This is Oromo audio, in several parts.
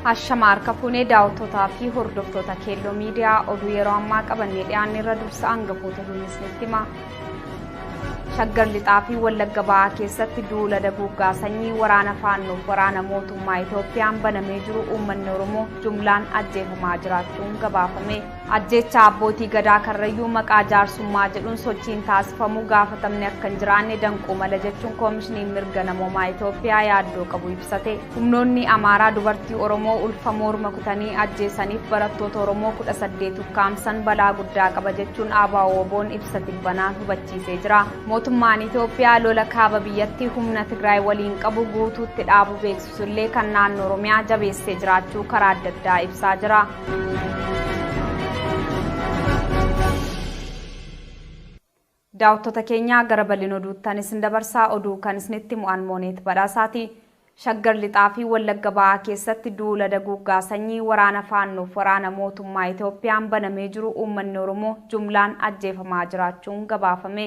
Hashama harka fuunee daawwattootaa fi hordoftoota keelloo miidiyaa oduu yeroo ammaa qabannee dhiyaanne irra dursa hangafoota duunisnitti hima. Shaggar Lixaa fi Wallagga Ba'aa keessatti duula daguuggaa sanyii waraana faannoof waraana mootummaa Itoophiyaan banamee jiru uummanni Oromoo jumlaan ajjeefamaa jiraachuun gabaafame. Ajjeechaa abbootii gadaa karrayyuu maqaa jaarsummaa jedhuun sochiin taasifamu gaafatamni akka hin jiraanne danquu mala jechuun koomishiniin mirga namoomaa Itoophiyaa yaaddoo qabu ibsate. Humnoonni Amaaraa dubartii Oromoo ulfa moorma kutanii ajjeesaniif barattoota Oromoo 18 ukkaamsan balaa guddaa qaba jechuun ABO-WBOn ibsa tibbanaan hubachiisee jira. Mootummaan Itoophiyaa lola kaaba biyyatti humna Tigraay waliin qabu guutuutti dhaabuu beeksisu illee kan naannoo Oromiyaa jabeessee jiraachuu karaa adda addaa ibsaa jira. Daawattoota keenya gara bal'ina oduuttan isin dabarsa. Oduu kan isinitti himu an Mooneet Badhaasaati. Shaggar Lixaa fi Wallagga Bahaa keessatti duula daguuggaa sanyii waraana Faannoof waraana mootummaa Itoophiyaan banamee jiru uummanni Oromoo jumlaan ajjeefamaa jiraachuun gabaafame.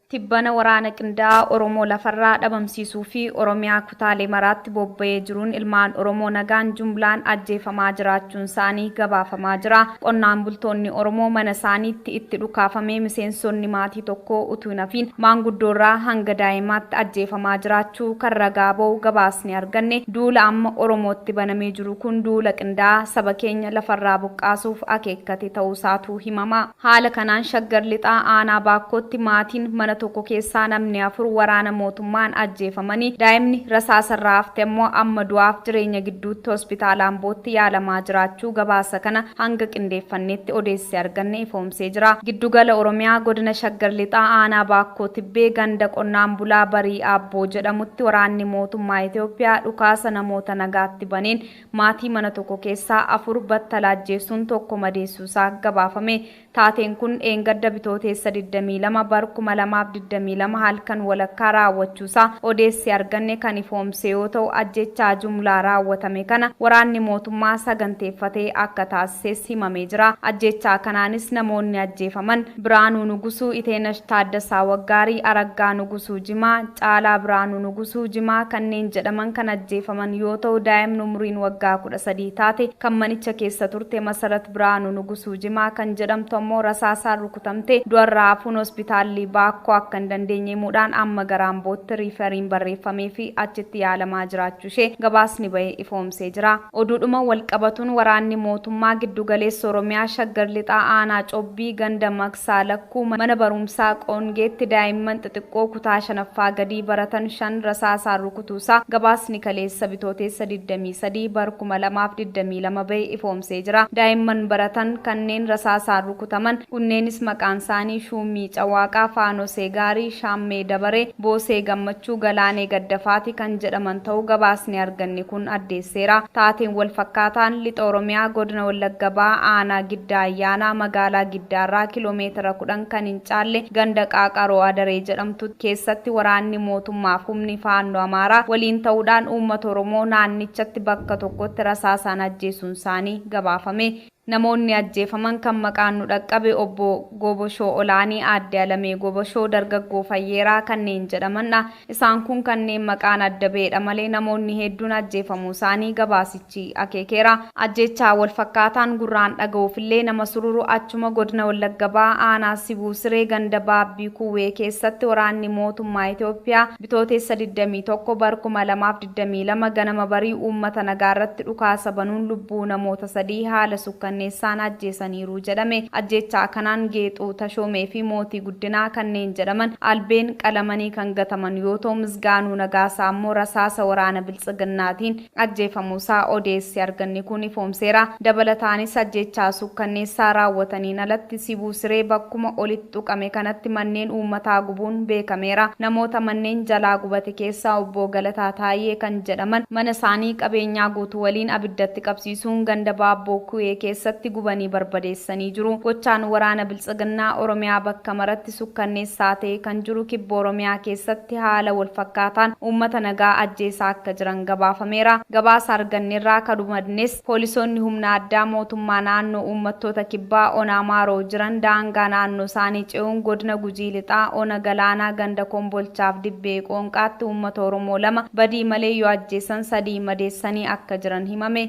Tibbana waraana qindaa'aa Oromoo lafarraa dhabamsiisuu fi Oromiyaa kutaalee maraatti bobba'ee jiruun ilmaan Oromoo nagaan jumlaan ajjeefamaa jiraachuunsaanii gabaafamaa jira. Qonnaan bultoonni Oromoo manasaaniitti itti dhukaafamee miseensonni maatii tokkoo utuu hin hafiin maanguddoorraa hanga daa'imaatti ajjeefamaa jiraachuu kan ragaa ba'u gabaasni arganne, duula amma Oromootti banamee jiru kun duula qindaa'aa saba keenya lafarraa buqqaasuuf akeekkate ta'uusaatu himama. Haala kanaan Shaggar Lixaa aanaa Baakkootti maatiin mana tokko keessaa namni afur waraana mootummaan ajjeefamanii daa'imni rasaasarraa hafte ammoo amma du'aaf jireenya gidduutti hospitaala Ambootti yaalamaa jiraachuu gabaasa kana hanga qindeeffanneetti odeessi arganne ifoomsee jira. Giddugala Oromiyaa godina Shaggar Lixaa aanaa Baakkoo Tibbee ganda qonnaan bulaa Barii Aabboo jedhamutti waraanni mootummaa Itoophiyaa dhukaasa namoota nagaatti baneen Maatii mana tokko keessaa afur battala ajjeessuun tokko madeessuusaa gabaafame. Taateen kun dheengadda Bitooteessa 22 bar 2022 halkan walakkaa raawwachuusaa odeessi arganne kan ifoomse yoo ta'u, ajjeechaa jumlaa raawwatame kana waraanni mootummaa saganteeffatee akka taasises himamee jira. Ajjeechaa kanaanis namoonni ajjeefaman. Biraanuu Nugusuu, Iteenash Taaddasaa Waggaarii, Araggaa Nugusuu Jimaa, Caalaa Biraanuu Nugusuu Jimaa kanneen jedhaman kan ajjeefaman yoo ta'u daa'imni umuriin waggaa 13 taate kan manicha keessa turte Masarat Biraanuu Nugusuu Jimaa kan jedhamtu ammoo rasaasaan rukutamtee du'arraa hafuun hospitaalli Baakkoo akka hin dandeenye himuudhaan amma gara Ambootti riifariin barreeffameefii achitti yaalamaa jiraachuu ishee gabaasni bahe ifoomsee jira. Oduudhuma walqabatuun waraanni mootummaa Giddugaleessa Oromiyaa Shaggar Lixaa Aanaa Cobbii ganda Maqsaa Lakkuu mana baruumsaa Qoongeetti daa'imman xixiqqoo kutaa 5ffaa gadii baratan 5 rasaasaan rukutuusaa gabaasni kaleessa Bitooteessa 23 bar 2022 bahe ifoomsee jira. Daa'imman baratan kanneen rasaasaan rukutaman kunneenis maqaansaanii Shuummii Cawaaqaa, Faanosee Gaarii, Shaammee Dabaree, Boosee Gammachuu, Galaanee Gaddafaati kan jedhaman ta'uu gabaasni arganne kun addeesseera. Taateen wal fakkaataan Lixa Oromiyaa Godina Wallagga Bahaa Aanaa Giddaa Ayyaanaa magaalaa Giddaarraa kilomeetira 10 kan hin caalle ganda Qaaqaroo Adaree jedhamtu keessatti waraanni mootummaaf humni Faannoo Amaaraa waliin ta'uudhaan uummata Oromoo naannichatti bakka tokkotti rasaasaan ajjeesuunsaanii gabaafame. Namoonni ajjeefaman kan maqaan nu dhaqqabe Obbo Goboshoo Olaanii, Aadde Alamee Goboshoo, Dargaggoo Fayyeeraa kanneen jedhaman dha. Isaan kun kanneen maqaan adda ba'e dha malee namoonni hedduun ajjeefamuu isaanii gabaasichi akeekeera. Ajjeechaa wal fakkaataan gurraan dhaga'uuf illee nama sururu achuma Godina Wallagga Bahaa Aanaa Sibuu Siree ganda Baabbii Kuwwee keessatti waraanni mootummaa Itoophiyaa Bitootessa 21 bar 2022 ganama barii uummata nagaarratti dhukaasa banuun lubbuu namoota sadii haala sukkanneessaan ajjeesaniiru jedhame. Ajjeechaa kanaan Geexuu Tashoomee fi Mootii Guddinaa kanneen jedhaman albeen qalamanii kan gataman yoo ta'u, Misgaanuu Nagaasaa ammoo rasaasa waraana Biltsiginnaatiin ajjeefamuusaa odeessi arganne kun ifoomseera. Dabalataanis ajjeechaa suukkanneessaa raawwataniin alatti Sibuu Siree bakkuma olitt tuqame kanatti manneen uummataa gubuun beekameera. Namoota manneen jalaa gubate keessaa Obboo Galataa Taayyee kan jedhaman mana isaanii qabeenyaa guutuu waliin abiddatti qabsiisuun ganda Baabboo Kuwee keessatti gubanii barbadeessanii jiru. Gochaan waraana Biltsiginnaa Oromiyaa bakka maratti sukkanneessaa ta'e kan jiru Kibba Oromiyaa keessatti haala wal fakkaataan uummata nagaa ajjeesaa akka jiran gabaafameera. Gabaasa argannerraa akka hubannes poolisoonni humna addaa mootummaa naannoo uummattoota Kibbaa ona Amaaroo jiran daangaa naannoo isaanii ce'uun godina Gujii Lixaa ona Galaanaa ganda Kombolchaaf Dibbee Qoonqaatti uummata Oromoo lama badii malee yoo ajjeesan sadii madeessanii akka jiran himame.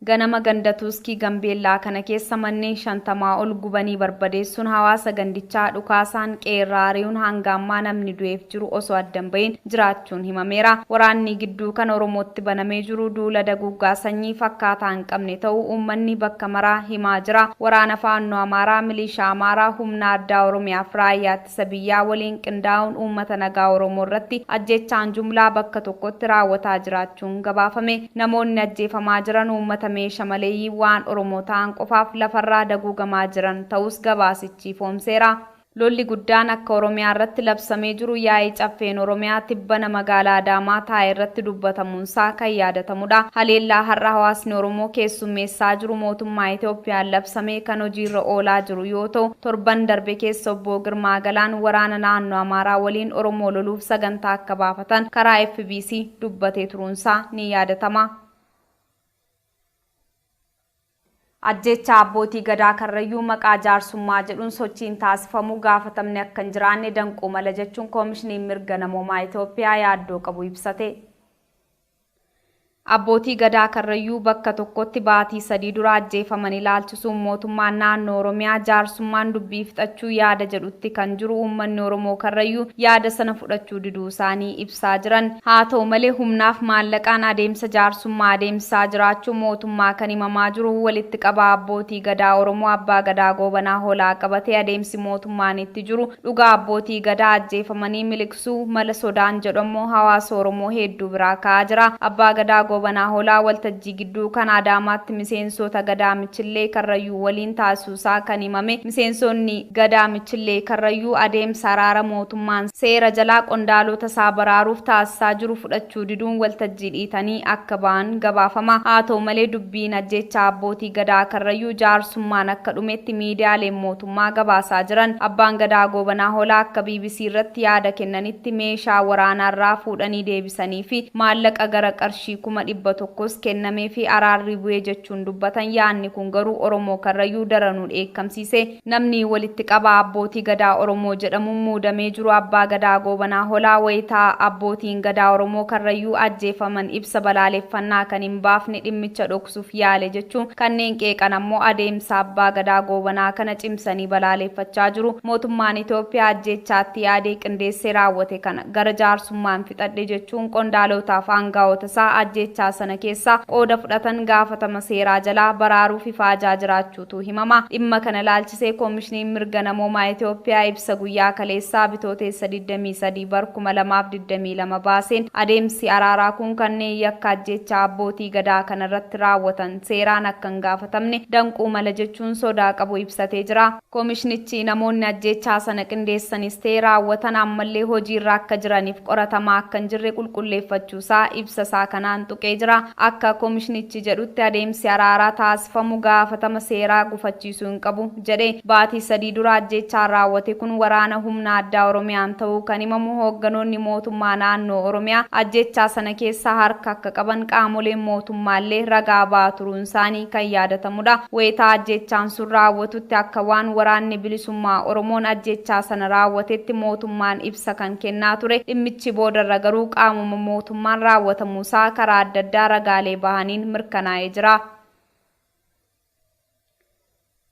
Ganama ganda Tuuskii Gambeellaa kana keessa manneen 50 ol gubanii barbadeessuun hawaasa gandichaa dhukaasaan qe'eerraa ari'uun hanga ammaa namni du'eef jiru osoo adda hin bahiin jiraachuun himameera. Waraannii gidduu kana Oromootti banamee jiru duula daguuggaa sanyii fakkaataa hin qabne ta'uu uummanni bakka maraa himaa jira. Waraana Faannoo Amaaraa, Miliishaa Amaaraa, Humna Addaa Oromiyaa fi Raayyaa ittisa biyyaa waliin qindaa'uun uummata nagaa Oromoo irratti ajjeechaan jumlaa bakka tokkotti raawwataa jiraachuun gabaafame. Namoonni ajjeefamaa jiran uummata meesha maleeyyii waan Oromoo ta'an qofaaf lafarraa daguugamaa jiran ta'uus gabaasichi ifoomseera. Lolli guddaan akka Oromiyaa irratti labsamee jiru yaa'ii Caffeen Oromiyaa tibbana magaalaa Adaamaa taa'e irratti dubbatamuun taasifamuunsaa kan yaadatamudha. Haleellaa har'a hawaasni Oromoo keessummeessaa jiru mootummaa Itoophiyaan labsame kan hojiirra oolaa jiru yoo ta'u, torban darbe keessa Obbo Girmaa Galaan waraana naannoo Amaaraa waliin Oromoo loluuf sagantaa akka baafatan karaa fbc dubbatee turuunsaa ni yaadatama. Ajjeechaa Abbootii Gadaa Karrayyuu maqaa jaarsummaa jedhuun sochiin taasifamu gaafatamni akka hin jiraanne danquu mala jechuun Koomishiniin Mirga Namoomaa Itoophiyaa yaaddoo qabu ibsate. Abbootii Gadaa Karrayyuu bakka tokkotti baatii sadii dura ajjeefaman ilaalchisuun mootummaan naannoo Oromiyaa jaarsummaan dubbii fixachuu yaada jedhutti kan jiru uummanni Oromoo Karrayyuu yaada sana fudhachuu diduu isaanii ibsu. ibsaa jiran. Haa ta'u malee humnaaf maallaqaan adeemsa jaarsummaa adeemsisaa jiraachuu mootummaa kan himamaa jiru walitti qabaa Abbootii Gadaa Oromoo Abbaa Gadaa Goobanaa Hoolaa qabatee adeemsi mootummaan itti jiru dhugaa Abbootii Gadaa ajjeefamanii miliqsuu mala sodaan jedhu ammoo hawaasa Oromoo heedduu biraa ka'aa jira. Abbaa Gadaa Goobanaa Hoolaa waltajjii gidduu kan Adaamaatti miseensoota Gadaa Michillee Karrayyuu waliin taasisuu isaa kan himame miseensoonni Gadaa Michillee Karrayyuu adeemsa araara mootummaan seera jalaa qondaalota isaa baraaruuf taasisaa jiru fudhachuu diduun waltajjii dhiitanii akka ba'an gabaafama. Haa ta'u malee dubbiin ajjeechaa abbootii Gadaa Karrayyuu jaarsummaan akka dhumetti miidiyaaleen mootummaa gabaasaa jiran. Abbaan Gadaa Goobanaa Hoolaa akka bbc irratti yaada kennanitti meeshaa waraanaa irraa fuudhanii deebisaniifi maallaqa gara qarshii kuma 100s kennameefi araarri bu'e jechuun jechuun dubbatan yaadni kun garuu Oromoo Karrayyuu daranuu dheekkamsiise. Namni walitti qabaa Abbootii Gadaa Oromoo jedhamuun muudamee jiru Abbaa Gadaa Goobanaa Holaa wayita Abbootiin Gadaa Oromoo Karrayyuu ajjeefaman ibsa balaaleffannaa kan hin baafne dhimmicha dhoksuuf yaale jechuun kanneen qeeqan ammoo adeemsa Abbaa Gadaa Goobanaa kana cimsanii balaaleeffachaa jiru. Mootummaan Itoophiyaa ajjeechaa itti yaadee qindeessee raawwate kana gara jaarsummaan fixadhe jechuun qondaalootaaf aangaa'ota Mosaa ajjeechaa sana keessaa qooda fudhatan gaafatama seeraa jalaa baraaruuf ifaajaa jiraachuutu himama. Dhimma kana ilaalchisee Komishiniin Mirga Namoomaa Itoophiyaa ibsa guyyaa kaleessaa Bitooteessa 23 bar 2022 baaseen adeemsi araaraa kun kanneen yakka ajjeechaa abbootii Gadaa kanarratti raawwatan seeraan akka hin gaafatamne danquu mala jechuun sodaa qabu ibsatee jira. Komishnichi namoonni ajjeechaa sana qindeessanis ta'e raawwatan ammallee hojiirra akka jiraniif qoratamaa akka hin jirre qulqulleeffachuusaa ibsa isaa kanaan tuqee jira. Akka komishnichi jedhutti adeemsi araaraa taasifamu gaafatama seeraa gufachiisuu hin qabu jedhe. Baatii sadii dura ajjeechaan raawwate kun waraana humna addaa Oromiyaan ta'uu kan himamu hoogganoonni mootummaa naannoo Oromiyaa ajjeechaa sana keessa harka akka qaban qaamoleen mootummaallee ragaa ba'aa turuun isaanii kan yaadatamudha. Wayita ajjeechaan sun raawwatutti akka waan Waraanni Bilisummaa Oromoon ajjeechaa sana raawwatetti mootummaan ibsa kan kennaa ture. Dhimmichi boodarra garuu qaamuma mootummaan raawwatamuusaa karaa adda addaa ragaalee bahaniin mirkanaa'ee jira.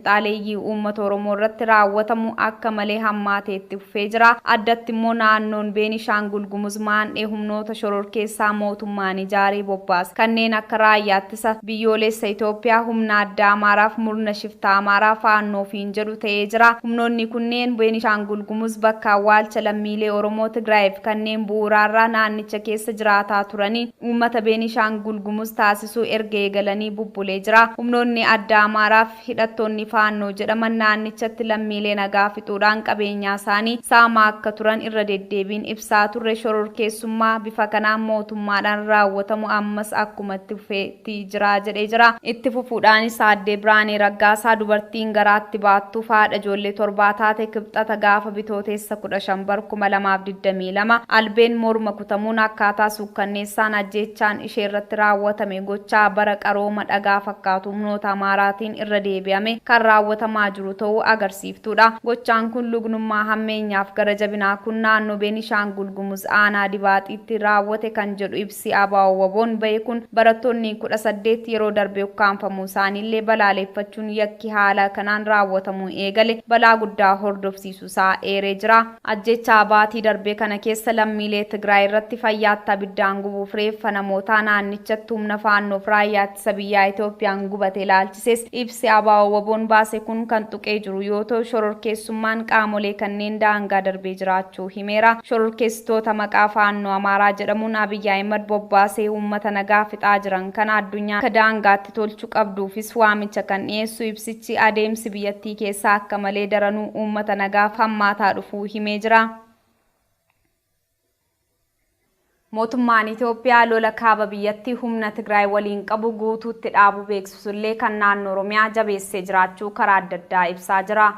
finxaaleeyyii uummata Oromoo irratti raawwatamu akka malee hammaatee itti fufee jira. Addatti immoo naannoon Beenishaangul Gumuz maandhee humnoota shororkeessaa mootummaan ijaaree bobbaase kanneen akka Raayyaa Ittisa Biyyooleessa Itoophiyaa, Humna Addaa Amaaraa fi murna shiftaa Amaaraa Faannoo ofiin jedhu ta'ee jira. Humnoonni kunneen Beenishaangul Gumuz bakka awwaalcha lammiilee Oromoo Tigraayi fi kanneen bu'uuraarraa naannicha keessa jiraataa turanii, Uummata Beenishaangul Gumuz taasisuu erga eegalanii bubbulee jira. Humnoonni addaa Amaaraa fi hidhattoonni Faannoo jedhaman naannichatti lammiilee nagaa fixuudhaan qabeenyaasaanii saamaa akka turan irra deddeebiin ibsaa turre. Shororkeessummaa bifa kanaan mootummaadhaan raawwatamu ammas akkuma itti fufeetti jira jedhee jira. Itti fufuudhaanis Aadde Biraanee Raggaasaa dubartiin garaatti baattuuf haadha ijoollee torbaa taate Kibxata gaafa Bitooteessa 15 bar 2022 albeen morma Rukutamuun akkaataa suukkanneessaan ajjeechaan ishee irratti raawwatame gochaa bara qarooma dhagaa fakkaatu humnoota Amaaraatiin irra deebi'ame kan raawwatamaa jiru ta'uu agarsiiftuudha. Gochaan kun lugnummaa hammeenyaaf gara jabinaa kun naannoo Beenishaangul Gumuz aanaa Dibaaxiitti raawwate kan jedhu ibsi ABO-WBOn bahe kun barattoonni 18 yeroo darbe ukkaamfamuu isaanii illee balaaleeffachuun yakki haala kanaan raawwatamuu eegale balaa guddaa hordofsiisuu isaa eeree jira. Ajjeechaa baatii darbe kana keessa lammiilee Tigraay irratti fayyaatti abiddaan gubuuf reeffa namootaa naannichatti humna Faannoof Raayyaa Ittisa Biyyaa Itoophiyaan gubate ilaalchisees ibsi ABO-WBOn baase kun kan tuqee jiru yoo ta'u, shororkeessummaan qaamolee kanneen daangaa darbee jiraachuu himeera. Shororkeessitoota maqaa Faannoo Amaaraa jedhamuun Abiy Ahimad bobbaasee uummata nagaa fixaa jiran kana addunyaan akka daangaatti biyyaatti tolchu qabduufis waamicha kan dhiyeessu ibsichi, adeemsi biyyattii keessaa akka malee daranuu uummata nagaaf hammaataa dhufuu himee jira. Mootummaan Itoophiyaa lola kaaba biyyattii humna Tigraay waliin qabu guutuutti dhaabuu beeksisullee kan naannoo Oromiyaa jabeessee jiraachuu karaa adda addaa ibsaa jira.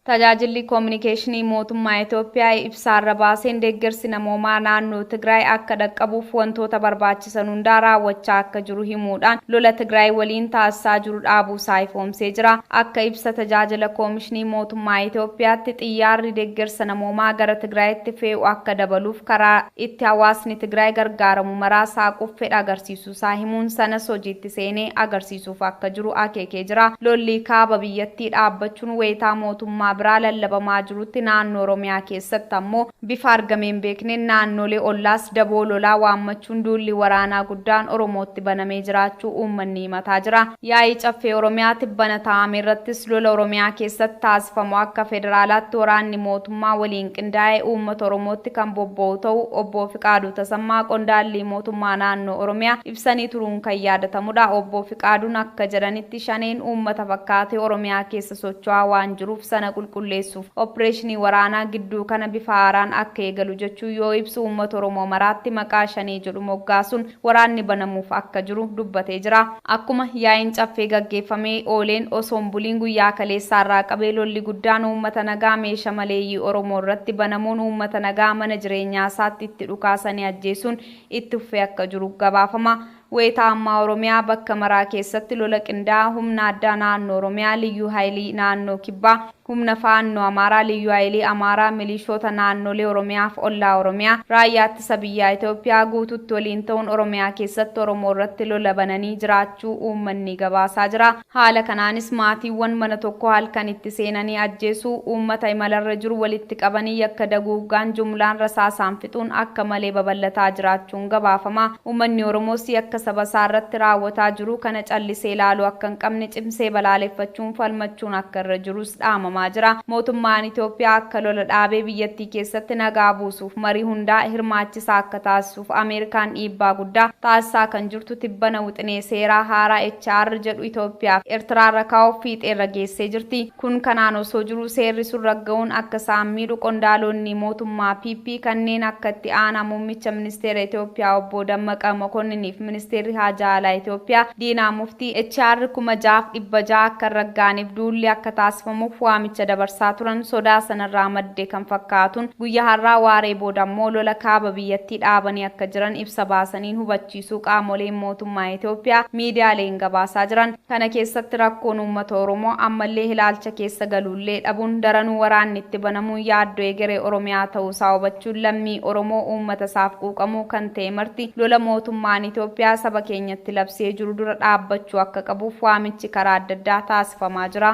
Tajaajilli Koominikeeshinii Mootummaa Itoophiyaa ibsaarra baaseen deeggarsi namoomaa naannoo Tigraay akka dhaqqabuuf wantoota barbaachisan hundaa raawwachaa akka jiru himuudhaan lola Tigraay waliin taasisaa jiru dhaabuusaa ifoomsee jira. Akka ibsa tajaajila Koomishinii Mootummaa Itoophiyaatti xiyyaarri deeggarsa namoomaa gara Tigraayitti fee'u akka dabaluuf karaa itti hawaasni Tigraay gargaaramu maraa saaquuf fedha agarsiisuusaa isaa himuun sanas hojiitti seenee agarsiisuuf akka jiru akeekee jira. Lolli kaaba biyyattii dhaabbachuun wayitaa mootummaa biraa lallabamaa jirutti naannoo Oromiyaa keessatti ammoo bifa argamee hin beekneen naannoolee ollaas daboo lolaa waammachuun duulli waraanaa guddaan Oromootti banamee jiraachuu uummanni himataa jira. Yaa'ii Caffee Oromiyaa tibbana taa'ame irrattis lola Oromiyaa keessatti taasifamu akka federaalaatti waraanni mootummaa waliin qindaa'ee uummata Oromootti kan bobba'u ta'uu Obbo Fiqaaduu Tasammaa qondaalli mootummaa naannoo Oromiyaa ibsanii turuun kan yaadatamudha. Obbo Fiqaaduun akka jedhanitti Shaneen uummata fakkaatee Oromiyaa keessa socho'aa waan jiruuf sana qulqulleessuuf oppireeshinii waraanaa gidduu kana bifa haaraan akka eegalu jechuun yoo ibsu uummata Oromoo maraatti maqaa Shanee jedhu moggaasuun waraanni banamuuf akka jiru dubbatee jira. Akkuma yaa'iin Caffee gaggeeffamee ooleen osoo hin buliin guyyaa kaleessaa irraa qabee lolli guddaan uummata nagaa meesha maleeyyii Oromoo irratti banamuun uummata nagaa mana jireenyaa isaatti itti dhukaasanii ajjeesuun itti fufee akka jiru gabaafama. Wayita ammaa Oromiyaa bakka maraa keessatti lola qindaa'aa humna addaa naannoo Oromiyaa, Liyyuu Hayilii naannoo Kibbaa, Humna Faannoo Amaaraa, Liyyuu Hayilii Amaaraa, Milishoota Naannolee Oromiyaa fi Ollaa Oromiyaa, Raayyaa Ittisa Biyyaa Itoophiyaa guutuutti waliin ta'uun Oromiyaa keessatti Oromoo irratti lola bananii jiraachuu uummanni gabaasaa jira. Haala kanaanis maatiiwwan mana tokkoo halkan itti seenanii ajjeesuu, uummata imalarra jiru walitti qabanii yakka daguuggaan jumlaan rasaasaan fixuun akka malee babal'ataa jiraachuun gabaafama. Uummanni Oromoos yakka saba isaa irratti raawwataa jiru kana callisee ilaaluu akka hin qabne cimsee balaaleffachuun falmachuun akka irra jirus dhaamamaa jira. Mootummaan Itoophiyaa akka lola dhaabee biyyattii keessatti nagaa buusuuf marii hundaa hirmaachisaa akka taasisuuf Ameerikaan dhiibbaa guddaa taasisaa kan jirtu tibbana wixinee seeraa haaraa HR jedhu Itoophiyaa fi Ertiraa irra kaa'uuf fiixee irra geessee jirti. Kun kanaan osoo jiruu seerri sun ragga'uun akka isaan miidhu qondaaloonni mootummaa PP kanneen akka itti aanaa muummicha Ministeera Itoophiyaa Obbo Dammaqa Mokonniiniif Ministeerri Haajaa Alaa Itoophiyaa Diinaa Muftii HR 6600 akka hin ragga'aniif duulli akka taasifamuuf waamicha dabarsaa turan sodaa sanarraa madde kan fakkaatuun guyya har'aa waaree booda ammoo lola kaaba biyyattii dhaabanii akka jiran ibsa baasaniin hubachiisuu qaamoleen mootummaa Itoophiyaa miidiyaaleen gabaasaa jiran. Kana keessatti rakkoon uummata Oromoo ammallee hilaalcha keessa galuullee dhabuun daranuu waraanni itti banamuun yaaddoo egeree Oromiyaa ta'uu isaa hubachuun lammii Oromoo uummata isaaf quuqamuu kan ta'e marti lola mootummaan Itoophiyaa saba keenyatti labsee jiru dura dhaabbachuu akka qabuuf waamichi karaa adda addaa taasifamaa jira.